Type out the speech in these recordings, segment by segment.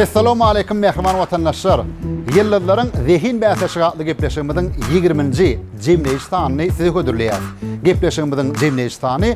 Essalamualeýkum mähriban watandaşlar. Ýyldyzlaryň zehin bäsleşigi atly gepleşigimiziň ýigriminji jemleýiş sanyny size hödürleýäris. Gepleşigimiziň jemleýiş sany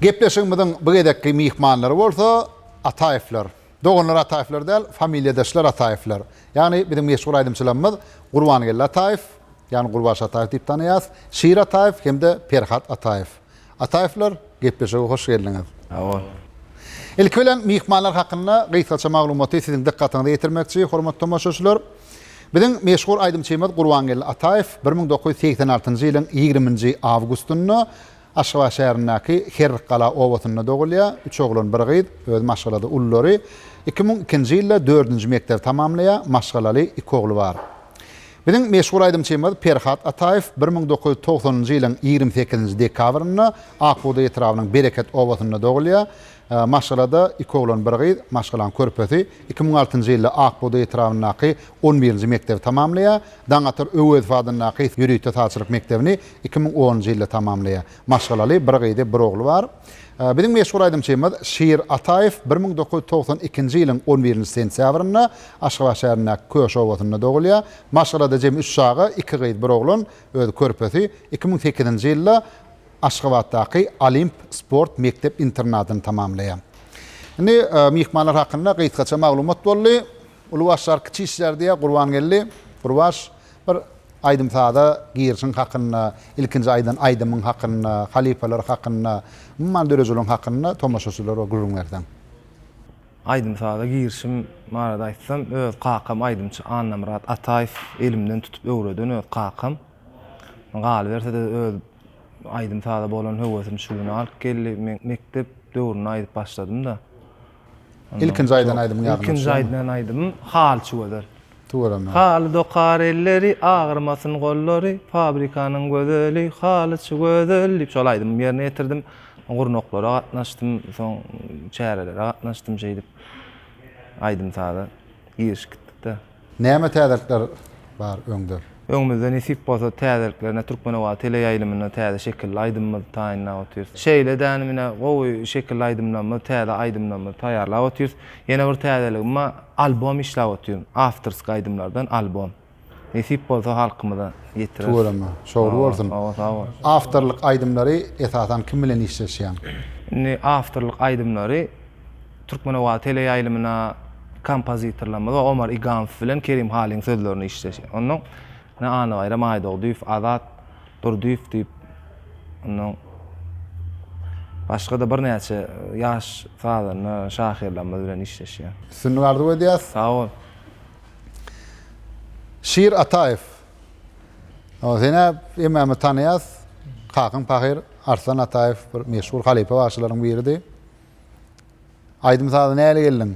Gepleşigimiziň bu gezekki myhmanlary bolsa Ataýewler. Doganlar Ataýewler däl, familiýadaşlar Ataýewler. Ýagny biziň meşhur aýdymçylarymyz Gurbangeldi Ataýew, ýagny Gurbaş Ataýew diýip tanaýas, Şir Ataýew hem-de Perhat Ataýew. Ataýewler, gepleşige hoş geldiňiz. Sag bol. Ilki bilen myhmanlar hakynda gysgaça maglumaty siziň dykgatyňyza ýetirmekçi, hormatly tomaşaçylar. Biziň meşhur aýdymçymyz Gurbangeldi Ataýew bir müň dokuz ýüz segsen altynjy ýylyň ýigrimi nji awgustynda Aşgabat şäherindäki Herrikgala obasynda dogulýar. Üç oglan, bir gyz. Özi maşgalada ululary. Iki müň ikinji ýylda dördünji mekdebi tamamlaýar. Maşgalaly iki ogly bar. Biziň meşhur aýdymçymyz Perhat Ataýew bir müň dokuz ýüz togsanynjy ýylyň ýigrimi sekizinji dekabrynda Akbugdaý etrabynyň Bereket obasynda dogulýar. Maşgalada iki oglan, bir gyz, maşgalaň körpesi iki müň altynjy ýylda Ak bugdaý etrabyndaky on birinji mekdebi tamamlaýar. Daňatar Öwezow adyndaky ýörite sazçylyk mekdebini iki müň onunjy ýylda tamamlaýar. Maşgalaly, bir gyzy, bir ogly bar. Biziň meşhur aýdymçymyz Şir Ataýew bir müň dokuz ýüz togsan ikinji ýylyň on birinji sentýabrynda Aşgabat şäherindäki Köş obasynda dogulýar. Maşgalada jemi üç çaga, iki gyz, bir oglan, özi körpesi iki müň sekizinji ýylda, Aşgabatdaky Olimp sport mekdep-internadyny tamamlaýar. Indi myhmanlar hakynda gysgaça maglumat boldy. Uly başlar kiçi işlär diýýär Gurbangeldi. Gurbaş, bir aýdym-saza girişiň hakynda, ilkinji aýdan aýdymyň hakynda, halypalar hakynda, umuman dörejiligiň hakynda tomaşaçylara gürrüň berseň. Aýdym-saza girişim barada aýtsam, öz kakam aýdymçy Annamyrat Ataýew elimden tutup öwreden öz kakam. Galyberse-de öz aýdym-saza bolan höwesim şu güne alyp geldi. Men mekdep döwründe aýdyp başladym-da. Ilkinji aýdan aýdymyň ýadyňda düşýärmi? Ilkinji aýdan aýdymym Haly çüweder. Tüweleme. Haly dokar elleri, agyrmasyn gollary, fabrikanyň gözeli, halyçy gözel diýip şol aýdymymy ýerine ýetirdim. Gurnaklara gatnaşdym, soň çärelere gatnaşdym şeýdip aýdym-saza girişip gitdik-de. Näme täzelikler bar öňde? Öňümizde nesip bolsa täzeliklerine Türkmenobat teleýaýlymynda täze şekilli aýdymymyzy taýynlap otyrys. Şeýle dänim ine gowy şekilli aýdymlarymyz, täze aýdymlarymyzy taýýarlap otyrys. Ýene bir täzeligim bar, albom işläp otyryn, awtorski aýdymlardan albom. Nesip bolsa halkymyza ýetireris. Tüweleme, şowly bolsun. Hawa, sag bol. Awtorlyk aýdymlary esasan kim bilen işleşýäň? Indi awtorlyk aýdymlary. Türkmenowazy teleýaýlymyna kompozitorlarymyz Omar Igamow bilen Kerim Halyň sözlerini işleşen. Ondan ine Annabaýram Aýdogdyýew, Azat Durdyýew diýip, ondan başga-da birnäçe ýaş sazanda şahyrlarymyz bilen işleşýän. Üstünlik arzuw edýäs. Sag bol. Şir Ataýew. Hawa, senä hemmämiz tanaýas. Kakyň pahyr Arslan Ataýew bir meşhur halypa bagşylaryň biridi. Aýdym-saza näle geldiň?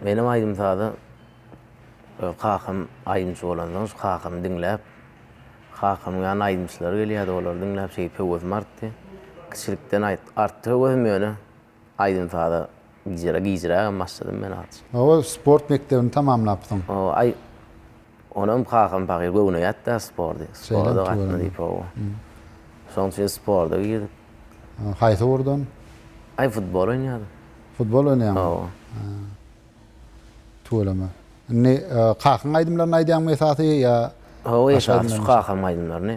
Menem aýdym-saza kakam aýdymçy bolandan şu kakamy diňläp, kakamyň ýanyna aýdymçylar gelýärdi, olary diňläp şeýdip höwesim artdy. Kiçilikden artdy höwesim ýöne aýdym-saza gijirä-gijirä başladym men azajyk. Hawa, sport mekdebini tamamlapsyň. Hawa, aý. Onam kakam pahyr göwne ýatdy-a spordy. Sporda gatna diýip hawa. Şoň üçin sporda girdik. Haýsy ugurdan? Aý futbol oýnadym. Futbol oýnaýaňmy? Hawa. Tüweleme. Indi kakaň aýdymlaryny aýdýaňmy esasy ýa? Hawa esasy şu kakamyň aýdymlaryny.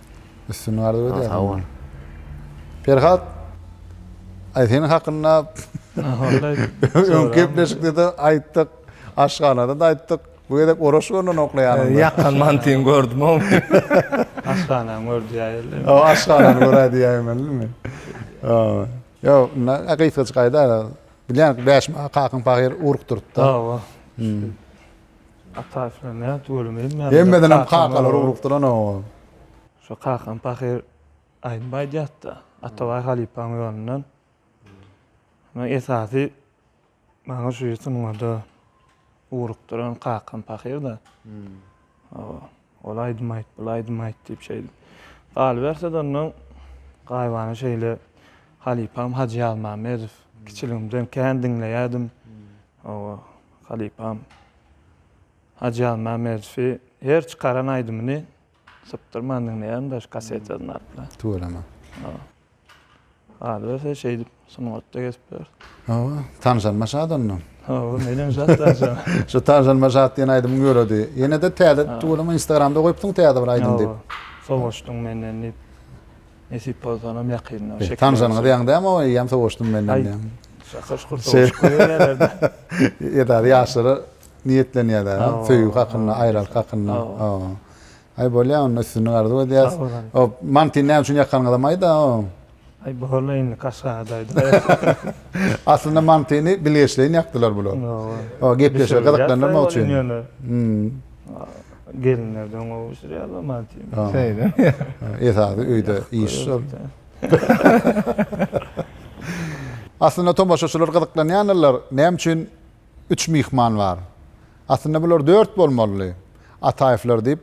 Üstünlik arzuw edýärin. Sag bol. Perhat, aý seniň hakynda öňki gepleşikde-de aýtdyk, aşhanada-da aýtdyk. Bu gezek Oraş göwnen okla ýanyňda. Ýakgan mantyňy gördüm-ow men. Aşhanany gör diýäýeli. Hawa, aşhanany göräý diýäýmelimi? Hawa. Ýok, indi gysgajyk aýdaý-da. Bilýän, bäşim kakyň pahyr uruk durupdy. Hawa. Ataýew bilen nädip ölemedim ýa. Hemmedenem kakalary urupdyr-an oňa. Şo kakam pahyr aýdym aýdýardy-da, Atabaý halypaň ýolundan. Muny esasy maňa şu sungat-a ugrukdyran kakam pahyr-da. Oba. Ol aýdym aýt, bul aýdym aýt diýip şeýdip galyberse-de ondan gaýybana şeýle halypam Hajy Ýazmämmedow kiçiligimden kän diňleýärdim. Hawa, halypam Hajy Ýazmämmedowy her çykaran aýdymyny sypdyrman diňleýärdim, daş kassetini alyp-la. Tüweleme. Hawa. Galyberse şeýdip sungatda gezip ýör. Hawa, tanyşanyma şat ondan. Hawa, menem şat tanyşanyma. Şu Tanyşanyma şat diýen aýdymyň ýöredi. Ýene-de täze tüweleme Instagramda goýupsyň täze bir aýdym diýip. Hawa, sowaşdyň menden diýip. Nesip bolsanam ýakynda şekil. Tanyşanyňyz ýaňy dämi o eýýäm sowaşdym menden diýen. Şaka şukur sowaşyp goýberýärler-de. Edil ýaşlara niýetlenýär-dä, söýgi hakynda, aýralyk hakynda. Hawa. Aý bolýa onda üstünlik arzuw edýäs. Sag boluň. O mantyny näme üçin ýakanyňyzam aýda oň. Aý boldy indi kaşgada aýdylýar. Aslynda mantyny bilgeşleýin ýakdylar bular. O gepleşige gyzyklandyrmak üçin. Gelinlerden gowy bişirýärler mantyny. Şeýle. Esasy öýde iş şol. Aslynda tomaşaçylar gyzyklanýandyrlar näme üçin Üç myhman bar. Aslynda bular dört bolmalydy. Ataýewler diýip,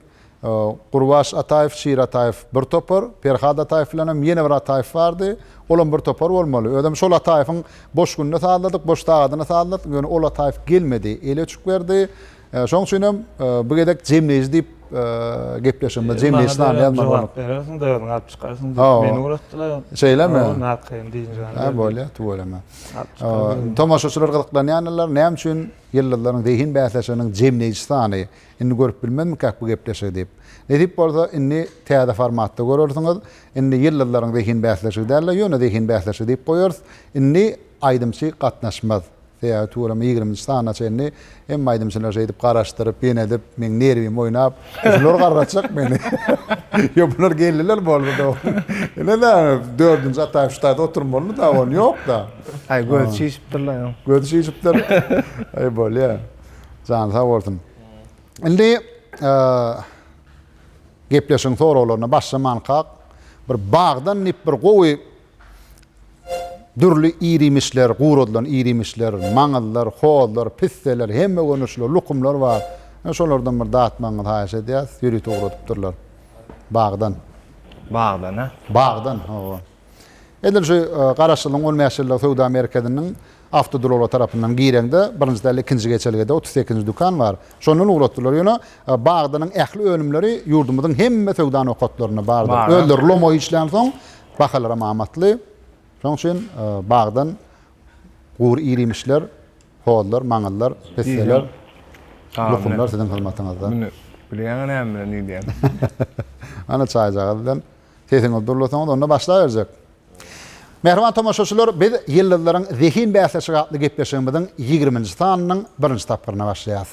Gurbaş Ataýew, Şir Ataýew bir topar, Perhat Ataýew bilenem ýene bir Ataýew bardy. Olam bir topar bolmaly. Özem şol Ataýewiň boş gününe sazladyk, boş sagadyna sazladyk. Ýöne ol Ataýew gelmedi. Eli öçük berdi. Şoň üçinem bu gezek jemleýji diýip gepleşigimiz, jemleýji sany ýazmaly bolduk. Jogap berersiň-de özüň alyp çykarsyň diýip meni ugratdylar. Şeýlemi? Ýok, narkaýym diýince. Hä, bolýar, tüweleme. Tomaşaçylar gyzyklanýandylar, näme üçin Ýyldyzlaryň zehin bäsleşiginiň jemleýji sany? Indi görüp bilmezmikak bu gepleşigi diýip. Nesip bolsa, indi täze formatda görersiňiz. Indi Ýyldyzlaryň zehin bäsleşigi däl-de, ýöne zehin bäsleşigi diýip goýarys. Indi aýdymçy gatnaşmaz. Sebäbi tuweleme ýigriminji sanyna çenli Hemme aýdymçylar şeýdip garaşdyryp, benedip, meň nerwimi oýnap, şular garratjak meni. Ýok, bular geldiler boldy-da ony. Ine-de, dördünji Ataýew şu taýda oturmalydy-da, ony ýok-da. Aý, gözi çişipdirler onuň. Gözi çişipdir. Aý, bolýar. Jany sag bolsun. Indi gepleşigiň soraglaryna başlamankak, bir bagdan dip bir gowy Dürli ir-iýmişler, guradylan ir-iýmişler, maňyzlar, hozlar, pisseler, hemme görnüşli lukumlar bar. Ine, şolardan bir datmagyňyzy haýyş edýäris. Ýörite ugradypdyrlar bagdan. Bagdan-a? Bagdan, hawa. Edil şu garaşylyň on bäş ýyllyk söwda merkeziniň Awtoduralga tarapyndan gireňde, birinji däl ikinji geçelgede otuz sekizinji dükan bar. Şondan ugratdylar. Ýöne Bagdanyň ähli önümleri ýurdumyzyň hemme söwda nokatlarynda bardyr. Özleri lomo işlänsoň, bahalaram amatly. Şonuň üçin Bagdan gury irimişler, hozlar, maňyzlar, pisseler, lukumlar siziň hyzmatyňyzda. Muny bilýäňä näme bilen idýän? Ana çaýjagaz bilen. Sesiňizi durlasaňyz onda başlaberjek. Mähriban tomaşaçylar, biz Ýyldyzlaryň zehin bäsleşigi atly gepleşigimiziň ýigriminji sanynyň birinji tapgyryna başlaýarys.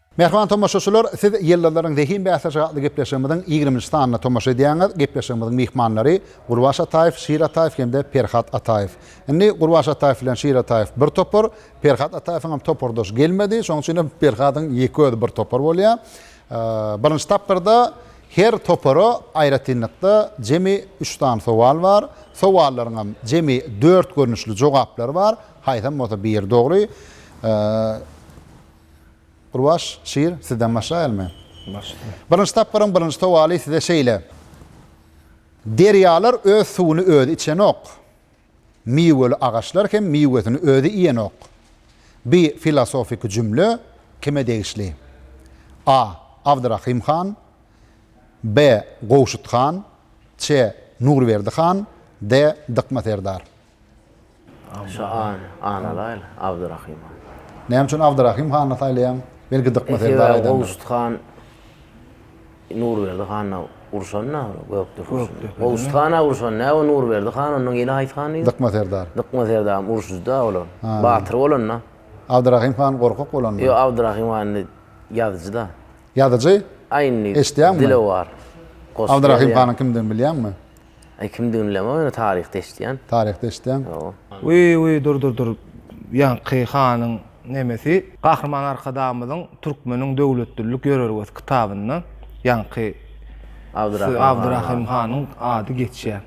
Mähriban tomaşaçylar, siz Ýyldyzlaryň zehin bäsleşigi atly gepleşigimiziň ýigriminji sanyna tomaşa edýäňiz. Gepleşigimiziň myhmanlary, Gurbaş Ataýew, Şir Ataýew hem-de Perhat Ataýew. Indi Gurbaş Ataýew bilen Şir Ataýew bir topar, Perhat Ataýewiň hem topardaşy gelmedi, şonuň üçin hem Perhadyň ýeke özi bir topar bolýar. Birinji tapgyrda her topara aýratynlykda jemi üç sany sowal bar. Sowallaryň hem jemi dört görnüşli jogaplary bar, haýsam bolsa biri dogry. Gurbaş şir, sizden başlaýalmy? Başla. Birinji tapgyryň birinji sowaly size şeýle. Derýalar öz suwuny özi içenok. Miweli agaçlar hem miwesini özi iýenok. Bi filosofiki jümle kime degişli? A. Abdyrahym han B. Gowşut han C. Nurberdi han D. Dykma serdar. Şa ana laýyk, Abdyrahym han. Näme üçin Abdyrahym hany saýlaýaň? Belki Dykma serdar aýdandyr. Sebäbi Gowşut han Nurberdi hana urşanda, Gökdür urşanda. Gowşut hana urşan, näme Nurberdi han ondan gelip haýsy han diýdi? Dykma serdar. Dykma serdaryň urşujyda olar. Batyr bolanda. Abdyrahym han gorkak bolanda. Ýok, Abdyrahym han indi ýazyjyda. Ýazyjy? Aýndy. Eşitýäňmi? Dilewar. Abdyrahym hanyň kimdigini bilýäňmi? Aý kimdigini bilemok ýöne taryhda eşitýän. Taryhda eşitýäň. Hawa. Wiý wiý dur dur dur ýaňky hanyň nemesi. Gahryman Arkadagymyzyň Türkmeniň döwletdillik ýörelgesi kitabynda ýaňky Abdyrahym hanyň ady geçýär.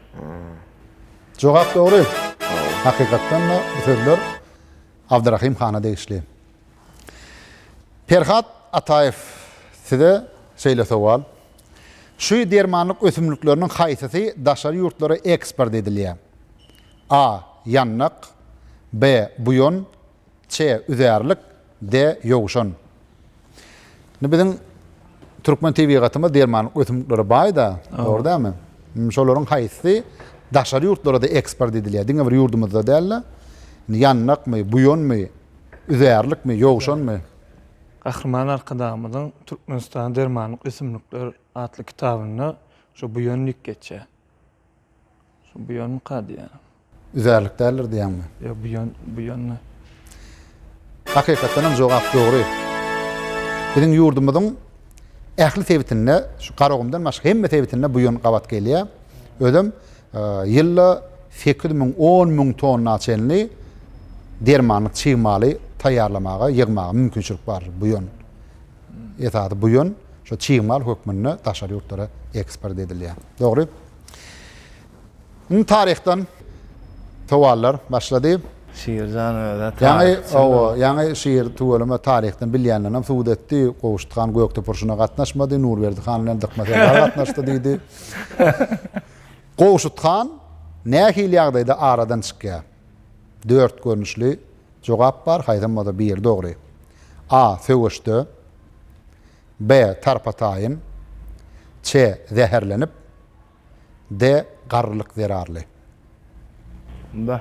Jogap dogry. Hakykatdan-da bu sözler Abdyrahym hana degişli. Perhat Ataýew size şeýle sowal. Şu dermanlyk ösümlikleriniň haýsysy daşary ýurtlara eksport edilýär? A. Ýandak B. Buýan C. Üzärlik D. Ýowşan Indi biziň türkmen tebigatymyz dermanlyk ösümliklere baý-da, dogry dälmi? Indi şolaryň haýsysy daşary ýurtlara-da eksport edilýär? Diňe bir ýurdumyzda däl-de, ýandakmy, buýanmy, Üzärlikmi, ýowşanmy? Gahryman Arkadagymyzyň Türkmenistanda dermanlyk ösümlikler atly kitabynda şu buýan dik geçýär. Şu buýanmyka diýýän. Üzärlik däldir diýýäňmi? Ýok, buýan, buýandy. Hakykatdan hem jogap dogry. Biziň ýurdumyzyň ähli sebitinde, şu Garagumdan başga hemme sebitinde buýan gabat gelýär. Özem Ýylda sekiz müň, on müň tonna çenli dermanlyk çig maly taýýarlamaga, ýygmaga mümkinçilik bardyr. Bu ýun, esasy bu ýun şo çig mal hökmünde daşary ýurtlara eksport edilýär. Dogry. Indi taryhdan sowallar başlady. Şir jan özä taryh çyzdy. Ýaňy Şir tüweleme taryhdan bilýänlenem subut etdi. Gowşut han Gökdepe urşuna gatnaşmady, Nurberdi han bilen Dykma serdar gatnaşdy diýdi. Gowşut han nähili ýagdaýda aradan çykýar? Dört görnüşli jogap bar, haýsam bolsa biri dogry. A. Söweşde. B. Tarpa-taýyn. Ç. Zäherlenip. D. Garrylyk zerarly. B.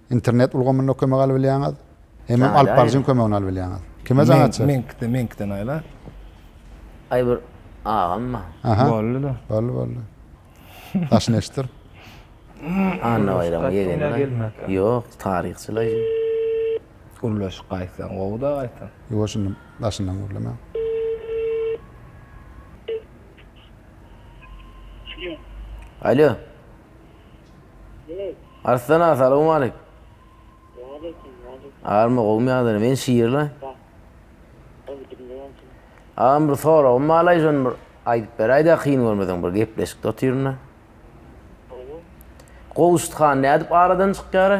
Internet ulgamynda kömek alyp bilýäňiz. Hemem alyp baryjyň kömegini alyp bilýäňiz. Kime jaň açar? Meňkide, meňkiden aýla. Aý bir agamma. Aha. Boldy-da. Boldy, boldy. Daşyny eşitdir. Annabaýramyň ýegeni. Ýok, taryhçylaý. Gürleşik gaýtsa gowy-da gaýtam. Ýuwa şuny daşyndan gürlemäň. Alo. Arslan aga salowmalik. Army gowmy ýagdaýlar men şirli. Agam bir soragym balaý şony bir aýdyp beräýdä kyn görmeseň bir gepleşikde otyrynda. Gowşut han nädip aradan çykýara?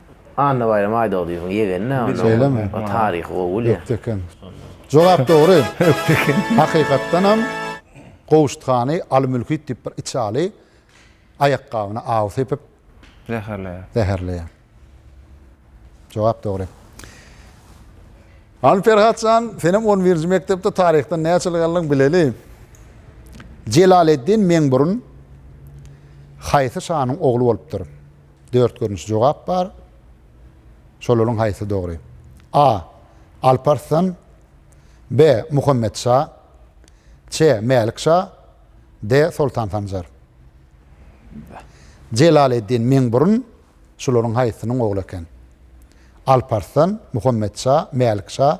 Annabaýram Aýdogdyýewiň ýegeni-dä onda. Şeýlemi? O taryhy gowy bilýär. Ökde eken. Jogap dogry. Ökde eken. Hakykatdanam Gowşut hany Alymülküt diýip bir içi aly aýakgabyna aw sepip Zäherleýär. zäherleýär. Jogap dogry. Hany Perhat jan, senem on birinji mekdepde taryhdan näçe ýyl galdyň, bileli. Jelaleddin Meňburun haýsy şanyň ogly bolupdyr? Dört görnüşli jogap bar. Şolaryň haýsy dogry? A. Alparslan B. Muhammet şa Ç. Mälik şa D. Soltan Sanjar Jelaleddin Meňburun şolaryň haýsysynyň ogly eken? Alparslan, Muhammet şa, Mälik şa,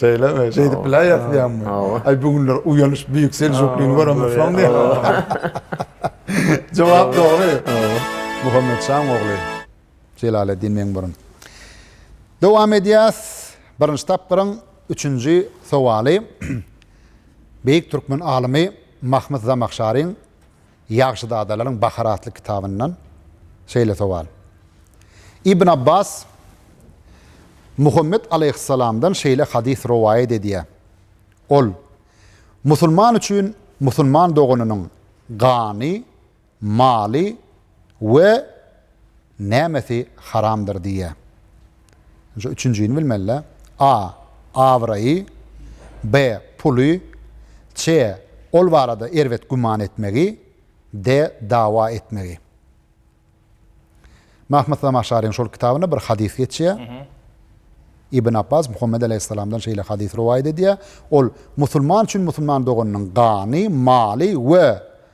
Şeýlemi? Şeýdip biläýersiz ýaňmy? Aý, bu günler uýanyş beýik seljuklyny göremok, şoňa diýip. Jogap dogry. Muhammet şaň ogly Jelaleddin Meňburun. Dowam edýäs. Birinji tapgyryň üçünji sowaly beýik türkmen alymy Mahmyt Zamahşaryň Ýagşyzadalaryň bahary atly kitabyndan şeýle sowal. Ibn Abbas Muhammet alaýhyssalamdan şeýle hadys rowaýat edýär. Ol, Musulman üçin musulman doganynyň gany, maly we nämesi haramdyr diýýär. Indi şu üçünjini bilmeli-dä. A. Abraýy. B. Puly. C. Ol barada erbet güman etmegi. D. Dawa etmegi. Mahmyt Zamaşaryň şol kitabynda bir hadys geçýär. Ibn Apbas Muhammet aleýhissalamdan şeýle hadys rowaýat edýär. Ol musulman üçin musulman doganynyň gany, maly we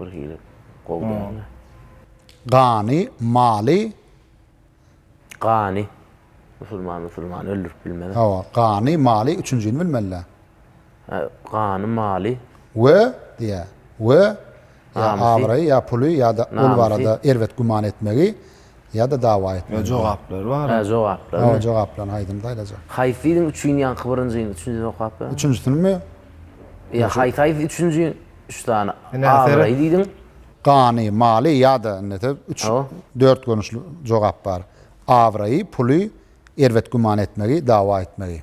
bir hili gowy dälmi? Gany, maly. Gany. Musulman musulmany öldürip bilmez. Hawa, gany, maly, üçünjini bilmeli-dä. Hä, gany, maly. We, diýýär. We, ýa abraýy, ýa puly, ýa-da ol barada erbet güman etmegi. Ýa-da dawa etmeli. Ýa jogaplary bar. Hä jogaplary. Hawa jogaplaryny aýdym saýlajak. Haýsy diýdiň üçin ýaňky birinjini üçünjini okap ber. Üçünjisinimi? Ýa haýsy haýsy üçünji üç sany abraý diýdiň. Gany, maly ýa-da indi ete üç dört görnüşli jogap bar. Abraýy, puly, erbet güman etmegi, dawa etmegi.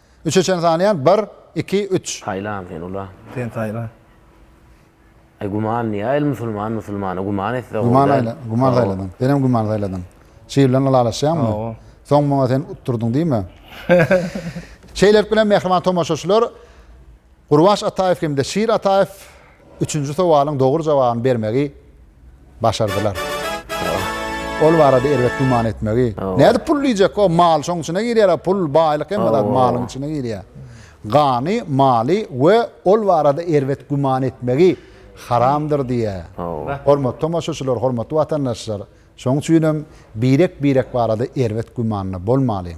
Üçe çen sanaýan bir, iki, üç. Saýlan sen ula. Sen saýla. Aý guman niýe el musulman musulmana guman etse gowy däl. Guman saýladyň. Senem guman saýladyň. Çyg bilen ylalaşýaňmy? Soň muňa sen utdurdyň diýme. Şeýlelik bilen mähriban tomaşaçylar Gurbaş Ataýew hem-de Şir Ataýew Üçünji sowalyň dogry jogabyny bermegi başardylar. Ol barada erbet güman etmegi. Nädip pul diýjek? O mal şoň içine girýär-a, pul, baýlyk hemme zat malyň içine girýär. Gany, maly we ol barada erbet güman etmegi haramdyr diýýär. Hormatly tomaşaçylar, hormatly watandaşlar, şoň üçin hem birek-birek barada erbet gümanda bolmalyň.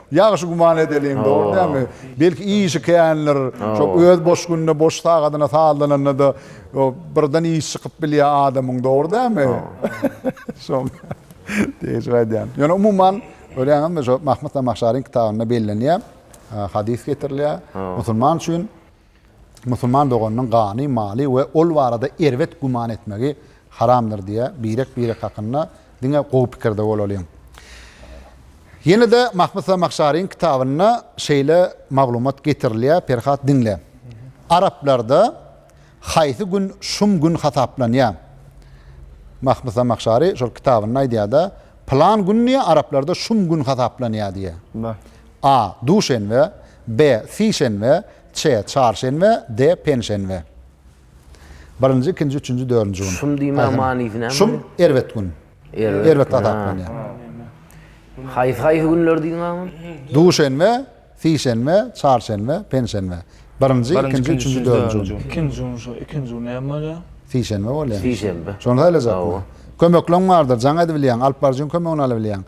Ýagşy güman edeliň, dogry dälmi? Belki işi kändir, şo öz boş gününe, boş sagadyna sazlananda-da birden iş çykyp bilýär adamyň, dogry dälmi? Şoň degişip aýdýan. Ýöne umuman, görýäňizmi, şo Mahmyt Zamahşaryň kitabynda bellenýär, hadys getirilýär, musulman üçin, Musulman doganynyň gany, maly we ol barada erbet güman etmegi haramdyr diýýär, birek-birek hakynda diňe gowy pikirde bolalyň. Ýene-de Mahmyt Zamahşaryň kitabynda şeýle maglumat getirilýär, Perhat diňle. Araplarda haýsy gün şum gün hasaplanýar? Mahmyt Zamahşary şol kitabynda aýdýar-da, Pylan gün diýýär, araplarda şum gün hasaplanýar diýýär. A. Duşenbe, B. Sişenbe C. Çarşenbe D. Penşenbe Birinji, ikinji, üçünji, dördünji gün. Şum diýmegiň manysy näme? Şum erbet gün. Erbet hasaplanýar. Haýsy haýsy günler diýdiň agam? Duşenbe, sişenbe, çarşenbe, penşenbe. Birinji, ikinji, üçünji, dördünji gün. Ikinji gün şu, ikinji gün näme bolýar? Sişenbe bolýar. Sişenbe. Şony saýlajakmy? Kömekleň bardyr, jaň edibilýäň, alyp baryjyň kömegini alabilýäň.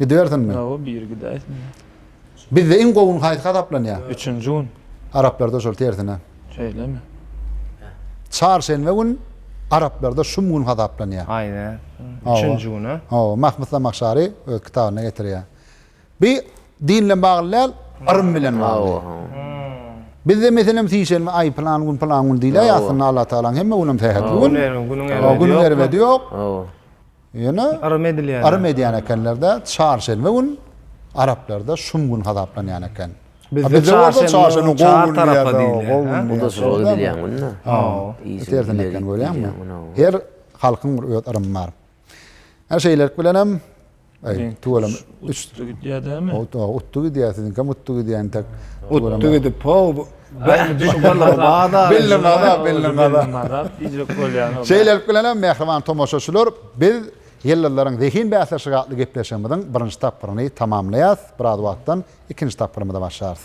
Gidibersinmi? Ýoga biri gidäýsinmi? Bizde iň gowy gün haýsy hasaplanýa? Üçünji gün. Araplarda şol tersine. Şeýlemi? Çarşenbe gün araplarda şum gün hasaplanýa. Aýne. Üçünji gün a? Hawa, Mahmyt Zamahşary öz kitabynda getirýä. Bi din bilen bagly däl, yrym bilen bagly. Bizde meselem sişenbe, aý pylan gün pylan gün diýilýä, aslynda Allatagalaň hemme günem sähetli gün. Günüň erbedi ýok. Ýöne Arym edilýän. Arym edýän ekenler-de, çarşenbe gün araplarda şum gün hasaplanýan eken. Bizde çarşenbe çar tarapa diýilýär. Bu-da surugy bilýän gün-dä. Tersine eken görýäňmi? Her halkyň bir öz yrymy bar. Hä şeýlelik bilenem tüweleme üç. Utdy gidýär dämi? Utdy gidýär, siziňkem utdy gidýär entek. Utdy gidip, ho, Şeýlelik bilen hem, mähriban tomaşaçylar, biz Ýyldyzlaryň zehin bäsleşigi atly gepleşigimiziň birinji tapgyryny tamamlaýarys. Biraz wagtdan ikinji tapgyrymyza başlarys.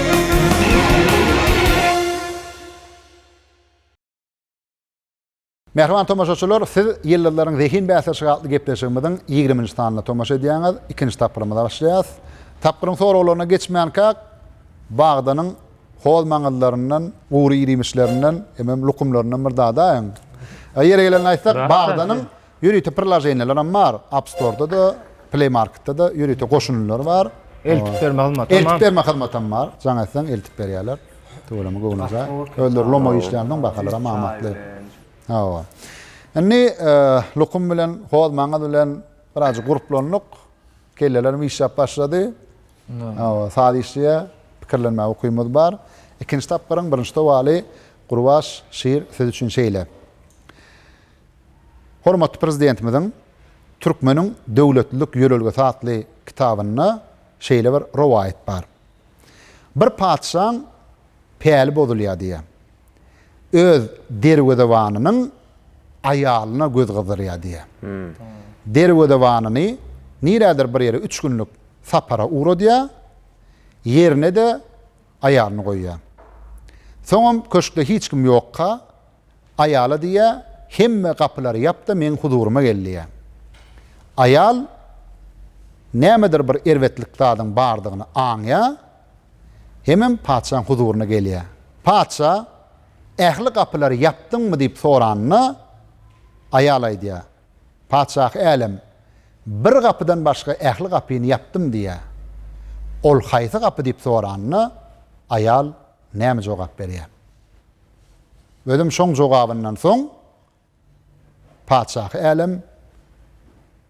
Mähriban tomaşaçylar, siz Ýyldyzlaryň zehin bäsleşigi atly gepleşigimiziň ýigriminji sanyna tomaşa edýäňiz. Ikinji tapgyrymyza başlaýarys. Tapgyryň soraglaryna geçmänkäk, Bagdanyň hoz maňyzlaryndan, gury irimişlerinden, hemem lukumlaryndan bir dadaýyň. Ýeri gelende aýtsak, Bagdanyň Ýörite prilaženiýalaram bar, Appstorda-da, Play Marketda-da ýörite goşundylar bar. Eltip berme hyzmatam bar. Eltip berme hyzmatam bar. Jaň etseň eltip berýärler. Tüweleme göwnejaý. Özleri lomo işleýänsoň bahalaram amatly. Hawa. Indi Lukum bilen Hozmaňyz bilen birazajyk gurplandyk. Kellelerim işläp başlady. Hawa, saz işleýä, pikirlenmäge ukymyz bar. Ikinji tapgyryň birinji sowaly Gurbaş şir siz üçin şeýle. Hormatly Prezidentimiziň Türkmeniň döwletlilik ýörelgesi atly kitabynda şeýle bir rowaýat bar. Bir patyşaň päli bozulýar diýýär. Öz derwezebanynyň aýalyna göz gyzdyrýar diýýär. Derwezebanyny nirädir bir ýere üç günlük sapara ugradýar, ýerine-de aýalyny goýýar. Soňam köşkde hiç kim ýokka. Aýala diýýär, Hemme gapylary ýap-da, meň huzuryma gel diýýär. Aýal nämedir bir erbetlik zadyň bardygyny aňýar hemem patyşaň huzuryna gelýär. Patyşa, Ähli gapylary ýapdyňmy? diýip soranda, aýal aýdýar, Patyşahy älem, bir gapydan başga ähli gapyny ýapdym diýýär. Ol haýsy gapy diýip soranda, aýal näme jogap berýär? Özüm şoň jogabyndan soň Patyşahy älem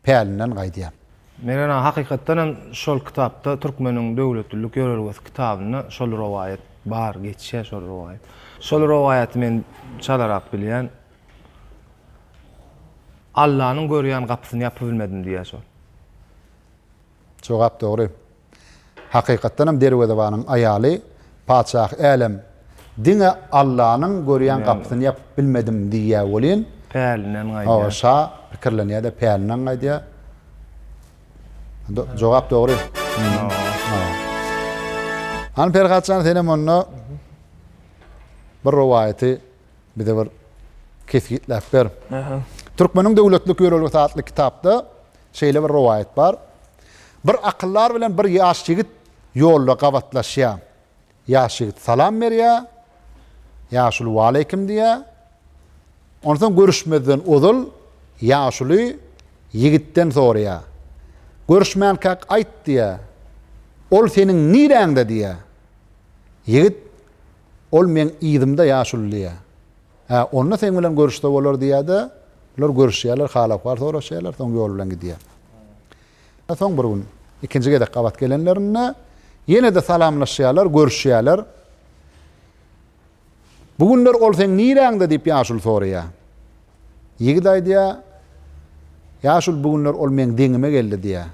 pälinden gaýdýan. Men ene hakykatdan hem şol kitapda Türkmeniň döwletlilik ýörelgesi kitabynda şol rowaýat bar geçýär şol rowaýat. Şol rowaýaty men çalarak bilýän. Allanyň görýän gapysyny ýapybilmedim diýýär şol. Jogap dogry. Hakykatdanam derwezebanyň aýaly Patyşah älem, diňe Allanyň görýän gapysyny ýapyp bilmedim diýýär welin, Pälinden gaýdýar. Hawa, şa pikirlenýär-de, pälinden gaýdýar. Jogap dogry. Hany, Perhat jan, senem onda bir rowaýaty bize bir kesgitläp ber. Türkmeniň döwletlik ýörelgesi atly kitapda Şeýle bir rowaýat bar. Bir akyldar bilen bir ýaş ýigit ýolda gabatlaşýar. Ýaş ýigit salam berýär. Ýaşuly waleýkim diýýär. Onsoň görüşmezden ozal ýaşuly ýigitden soraýar. Görüşmänkäk aýt diýýär. Ol seniň niräňde diýýär. Ýigit Ol meň yzymda ýaşuly diýýär. Hä, onda seň bilen görüşse bolar diýýär-de, bular görüşýärler, hal-ahwal soraşýarlar, soň ýol bilen gidýär. Soň bir gün ikinji gezek gabat gelenlerinde ýene-de salamlaşýarlar, görüşýärler. Bu günler ol seň niräňde diýip ýaşuly soraýar. Ýigit aýdýar, Ýaşuly bu günler ol meň deňime geldi diýýär.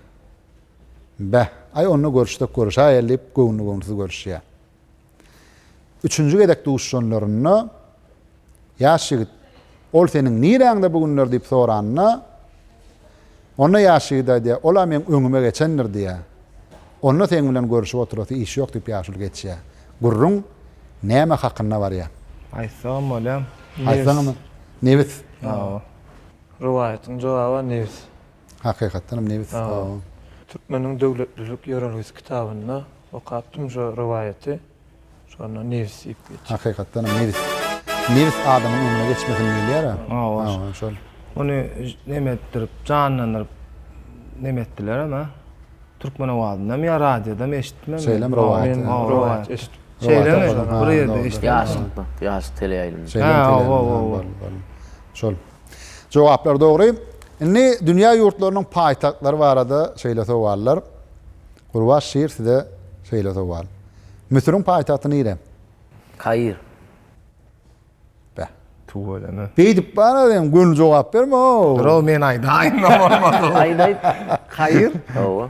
Beh, aý onda görüşsek görüşäýeli diýip, göwnli-göwnüsiz görüşýär. Üçünji gezek duşanlarynda ýaş ýigit, Ol seniň niräňde bu günler diýip soranda, onda ýaş ýigit aýdýar, Ol-a meň öňüme geçendir diýýär. Onda seň bilen görüşip oturasy iş ýok diýip ýaşuly geçýär. Gürrüň näme hakynda barýar? Aýtsagam bolýar. Aýtsaňmy? Nebis. Hawa. Rowaýatyň jogaby nebis. Hakykatdanam nebis o. Türkmeniň döwletlilik ýörelgesi kitabynda okapdym şo rowaýaty. Şonda nebis diýip geçýär. Hakykatdanam nebis. Nebis adamyň öňüne geçmesin diýilýär-ä. Hawa, şol. Ony neme etdirip, janlandyryp neme etdilerem ä. Türkmen owazynda ýa radiodam eşitdim men. Şeýlem rowaýat. Rowaýat eşitdim. Şeýlemi? Bir ýerde eşitdim. Ýaşytmak, ýaşyt teleýaýlymda. Şeýlem teleýaýlymda. Şol. Jogaplar dogry. Indi dünýä ýurtlarynyň paýtagtlary barada şeýle sowallar. Gurbaş şir size şeýle sowal. Müsüriň paýtagty nire? Kair. Beh. Tüweleme. Beýdip bara sen göni jogap berme-ow. Durov men aýdaýyn bolmasa. Aýt aýt. Kair. Hawa.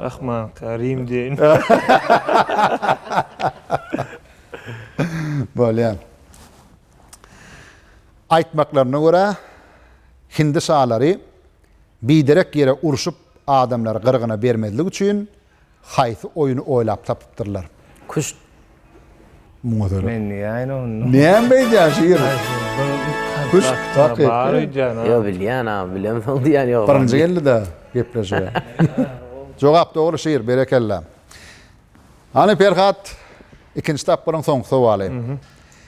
Rahman Karim diýeýin. Bolýar. Aýtmaklaryna görä, hindi şalary biderek ýere urşup adamlary gyrgyna bermezlik üçin haýsy oýny oýlap tapypdyrlar? Küşt Muňa seret. Men diýäýin onda. Näme edýän şu ýeri? Kuş takyk. Bar öýdýän. Ýo bilýän a bilemsoň diýän ýo. Birinji geldi-de gepleşige. Jogap dogry şir berekella. Hany Perhat ikinji tapgyryň soňky sowaly.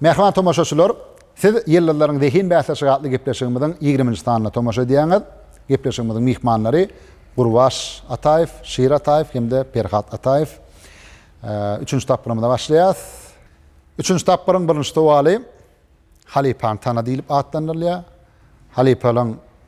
Mähriban tomaşaçylar, Siz Ýyldyzlaryň zehin bäsleşigi atly gepleşigimiziň ýigriminji sanyna tomaşa edýäňiz. Gepleşigimiziň myhmanlary Gurbaş Ataýew, Şir Ataýew hem-de Perhat Ataýew. Üçünji tapgyrymyza başlaýarys. Üçünji tapgyryň birinji sowaly Halypany tana diýlip atlandyrylýar. Halypalaň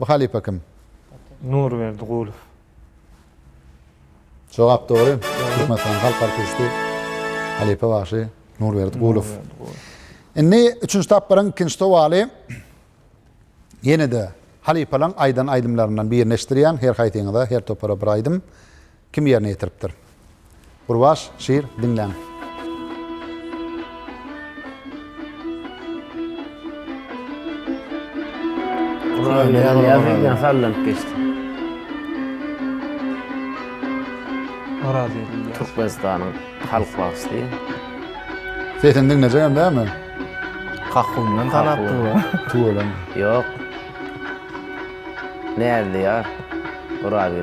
Bu halypa kim? Nurberdi Gulow. Jogap dogry. Türkmenistanyň halk artisti, halypa bagşy Nurberdi Gulow. Indi üçünji tapgyryň ikinji sowaly. Ýene-de halypalaryň aýdan aýdymlaryndan birini eşitdirýän, her haýsyňyza, her topara bir aýdym. Kim ýerine ýetiripdir? Gurbaş, Şir, diňläň. Nyýazy hasallanyp geçdi. Orazi. Türkmenistanyň halk bagşysy. Sesini diňlejegem dälmi? Kakundan tanapdyr bu. Tüweleme. Ýok. Näzli ýar. Orazi.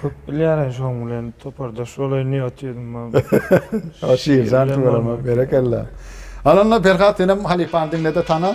Köp bilýärin şoň bilen topardaş bolaýyn diýip otyryn mam. O şiir jan tüweleme berekella. Alynda Perhat senem halypany diňlede tana.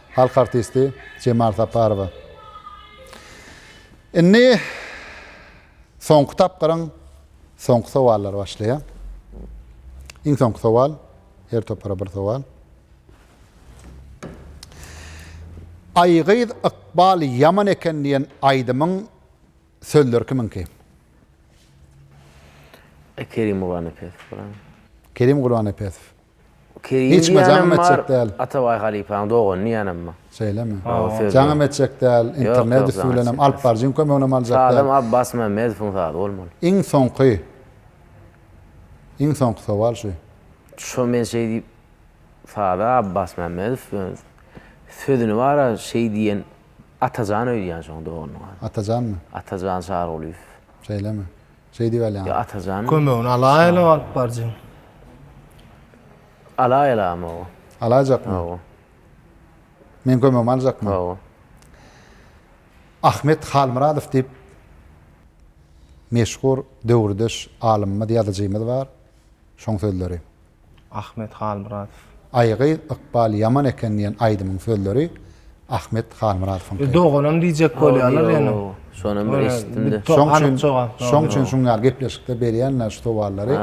Halk artisti Jemal Saparowa Indi soňky tapgyryň soňky sowallary başlaýar. Iň soňky sowal, her topara bir sowal. Aýgyz ykbal ýaman eken diýen aýdymyň sözleri kimiňki? Kerim Gurbanepesow. Kerim Gurbanepesow. Kerim Hiç kime jaňym etjek däl. Atabaý halypaň dogany diýýänem bar. Şeýlemi? Jaňym etjek däl, internet üsti bilenem alyp baryjyň kömeginem aljak däl. Sazam Abbas Mämmedowyň sazy bolmaly. Iň soňky Iň soňky sowal şu. Şo men şeý diýip saza Abbas Mämmedow sözüni bara şeý diýen Atajan öýdýän şoň doganynyň ady. Atajanmy? Atajan Çarygulyýew. Şeýlemi? Şeý diýip alýan. Ýa Atajan. Kömegini alaýaly alyp barjyň. Alaýaly ama oba. Alaýjakmy? Oba. Men kömegimi aljakmy? Oba. Ahmet Halmyradow diýip meşhur döwürdeş alymymyz, ýazyjymyz bar. Şoň sözleri. Ahmet Halmyradow. Aý gyz ykbal ýaman eken diýen aýdymyň sözleri Ahmet Halmyradowyňky. Doganam diýjek bolýarlar ýöne. Şonam bir eşitdimde. Şoň üçin şoň üçin şuň ýaly gepleşikde berýänler şu sowallary.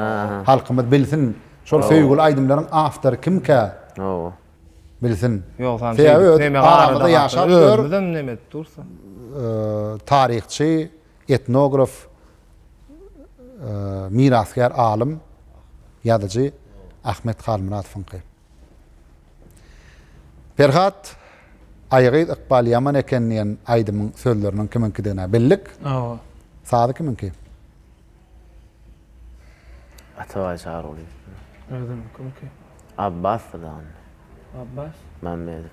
Halkymyz bilsin şol söýgüli aýdymlaryň awtory kimkä? Hawa. Bilsin. Ýogsam şeýdip neme arada ýaşap ýör. Özümizem neme edip dursa. Taryhçy Etnograf, mirasgär alym, ýazyjy Ahmet Halmyradowyňky. Perhat, Aýy gyz ykbaly ýaman eken diýen aýdymyň sözleriniň kimiňkidigine bildik. Hawa. Sazy kimiňki? Atabaý Çarygulyýewki. Özümiňki? Abbasdyr dagynda. Abbas? Mämmedow.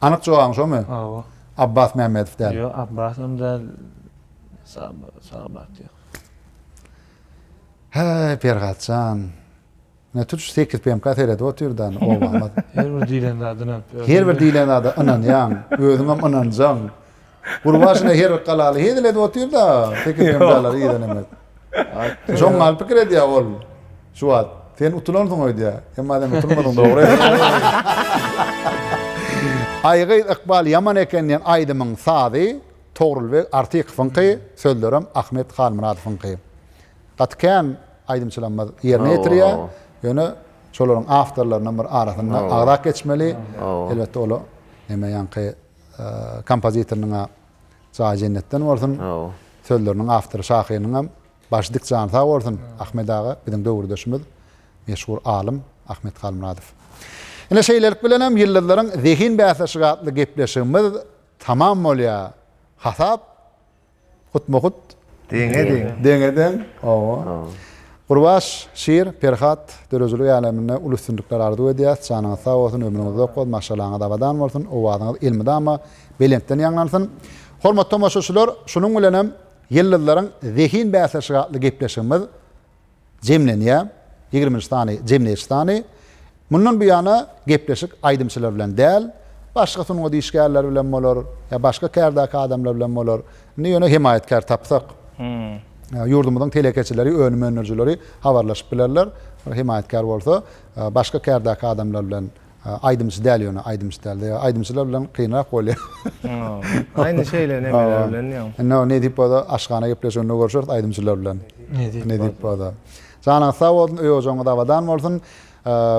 Anyk jogabyň şomy? Hawa. Abbas Mämmedow däl. Ýok, Abbas hem däl. Sagbat ýok. Häý, Perhatjan. Ne tutuş 8 PMK seredip otyr da, oba. Her bir diýlen zadyna. Her bir diýlen zada ynanýaň, özüňem ynanjaň. Gurbaşyna her galaly hezil edip otyr-da, tekiz hemralary yzan emes. Şoň gal pikir edýä ol. Şu wagt, sen utulansyň öýdýä. Emma sen utulmadyň dogry. Aý gyz ykbal ýaman eken diýen aýdymyň sazy Togrulbeg Artykowyňky, sözlerem Ahmet Halmyradowyňky. Gaty kän aýdymçylarymyz ýerine ýetirýä. Ýöne şolaryň awtorlarynyň bir arasynda agzap geçmeli. Elbetde ol neme ýaňky Kompozitornyň-a jaýy jennetden bolsun. Sözleriniň awtory şahyrynyňam baş dik jany sag bolsun. Ahmet aga biziň döwürdeşimiz, meşhur alym Ahmet Halmyradow. Ine şeýlelik bilenem Ýyldyzlaryň zehin bäsleşigi atly gepleşigimiz tamam bolýar. Hasap Hutma hut. Deňe deň. Deňe deň. Owo. Gurbaş, Şir, Perhat, döredijilik äleminde uly üstünlikler arzuw edýäs. Janyňyz sag bolsun, ömrüňiz uzak bolsun, maşgalaňyz abadan bolsun, owazyňyz elmydama belentden ýaňlansyn. Hormatly tomaşaçylar, şunuň bilenem Ýyldyzlaryň zehin bäsleşigi atly gepleşigimiz jemlenýär, ýigrimi üç sany jemleýji sany. Mundan bu ýana gepleşik aýdymçylar bilen däl, başga sungat işgärleri bilen bolar, ýa başga kärdäki adamlar bilen bolar. Indi ýöne hemaýatkär tapsak, ýurdumyzyň telekeçileri, önüm öndürijileri habarlaşyp bilerler. Hemaýatkär bolsa, başga kärdäki adamlar bilen. Aýdymçy däl ýöne aýdymçy dälde ýa aýdymçylar bilen kynrak bolýa. Aýna şeýle nemeler bilen ýa. Indi o nedip bolsa aşhana gepleşiginde görşeris aýdymçylar bilen. Nedip bolsa. Janyňyz sag bolsun öý ojagyňyz abadan bolsun.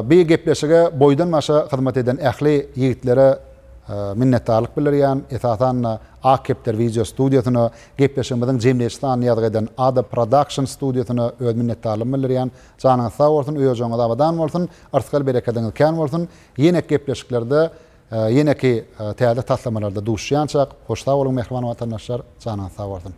Bi gepleşige boýdan başa hyzmat eden ähli ýigitlere minnetdarlyk bildirýän esasanda Ak kepder wideo studiýasyna gepleşigimiziň jemleýji sanyny ýazgy eden Ada prodakşn studiýasyna öz minnetdarlygymy bildirýän Janyňyz sag bolsun öýejoňyz abadan bolsun yrsgal berekediňiz kän bolsun ýenek gepleşiklerde ýeneki täze taslamalarda duşýançak hoş sag boluň mähriban watandaşlar janyňyz sag bolsun.